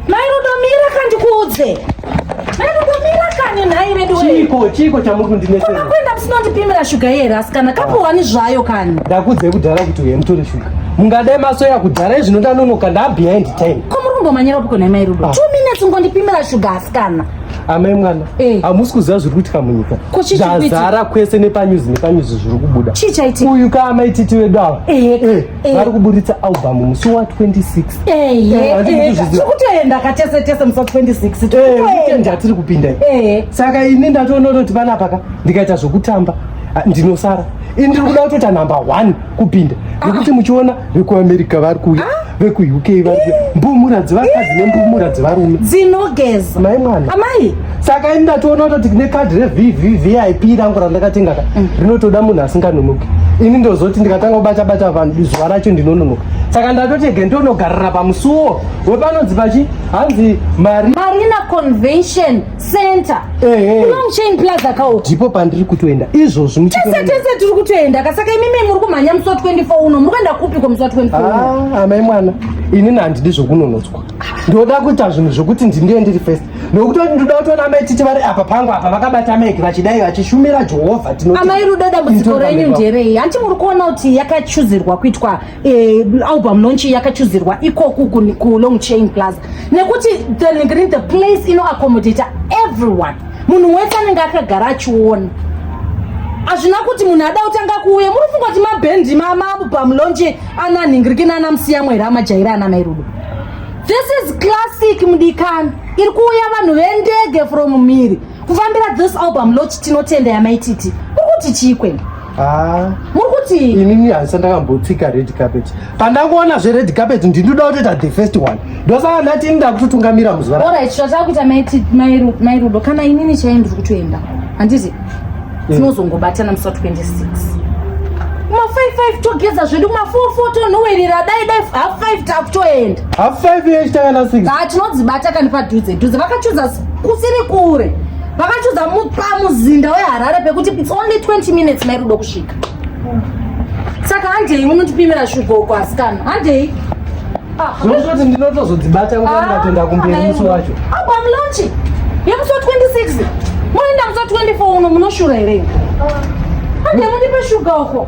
mairudomira kandikuudze mairudomira kani nhai veduchiko chiko chamuri kundinetsera kuenda musinondipimira shuga iye rasi kana kapuhwani zvayo kani ndakuudzai kudhara kuti uye mutore shuga mungadai masoya kudhara izvino ndanonoka ndaabehind time ko muri kumbomanyira piko nhai mairudo ah. two minutes ngondipimira shuga asikana amai mwana eh. hamusi kuziva zviri kuitika munyika zvazara kwese nepanyuzi nepanyuzi zviri kubuda uyu ka amai titi vedu ava eh, eh, vari kuburitsa album musi wa 26kutoenda katese tese musi wa 26 atiri kupinda saka ini ndatoona kuti panapaka ndikaita zvokutamba ah, ndinosara ini ndiri kuda kutota number one kupinda nekuti muchiona vekuamerica vari kuuya ah? vekuuk vari kuuya mbumura dzevakadzi nembumura dzevarume dzinogeza mai mwana amai saka ini ndatoona kutoti ne kadhi revvvip rangu randakatenga ka mm. rinotoda munhu asinganonoki ini ndozoti ndikatanga kubata bata vanhu zuva racho ndinononoka saka ndatoti ege ndonogarira pamusuwo wepanonzi pachi hanzi mari marina convention center ehe long chain plaza kawo ndipo pandiri kutoenda izvozvi muchitese tese tiri kutoenda kasaka imi mimi muri kumhanya musi wa 24 uno muri kuenda kupi kwa musi wa 24 uno ah amai mwana ini nandidi zvokunonotswa ndoda kuita zvinhu zvokuti ndindiye ndiri first nokuti ndoda kutoona amai titi vari apa pangu apa vakabata mike vachidai vachishumira jehovha tino amai rudo dambudziko renyu nderei hanti muri kuona kuti yakachuzirwa kuitwa eh, album launch yakachuzirwa ikoku kulong chain plaza nekuti thengirin the place inoaccommodata everyone munhu wese anenge akagara achiona hazvina kuti munhu ada kutanga kuuya muri funga kuti mabhendi mamabu pamulonje ana nhingiriki naana musiyamwe here amajaira ana mairudo this is classic mudikani iri kuuya vanhu vendege from mhiri kufambira this album lochi tinotenda yamaititi kuri kuti chii kwenda Ah. muri kuti inini haisa ndakambotsika red carpet pandangoona zvered carpet ndinoda kutoita the first one ndosaka ndati ini ndakutotungamira muzuva ra- orit zvatava kuita maiti- mairu- mairudo kana inini chai ndiri kutoenda handiti tinozongobatana musi wa 26 ma 55 togeza zvedu ma 44 tonhowerera dai dai half 5 takutoenda half five years takana six haa tinodzibata kani padhudze dhudze vakachuza s- kusiri kure vakachiudza pamuzinda weharare pekuti its only 20 minutes mairudo kusvika saka handei unotipimira shuga uko asikana handei ah, zvinototi ndinotozodzibata nguva ndatoenda ah, kumberi musi wacho apo amlonchi yemusi wa 26 munoenda musi wa 24 uno munoshura here handei mundipe shuga uko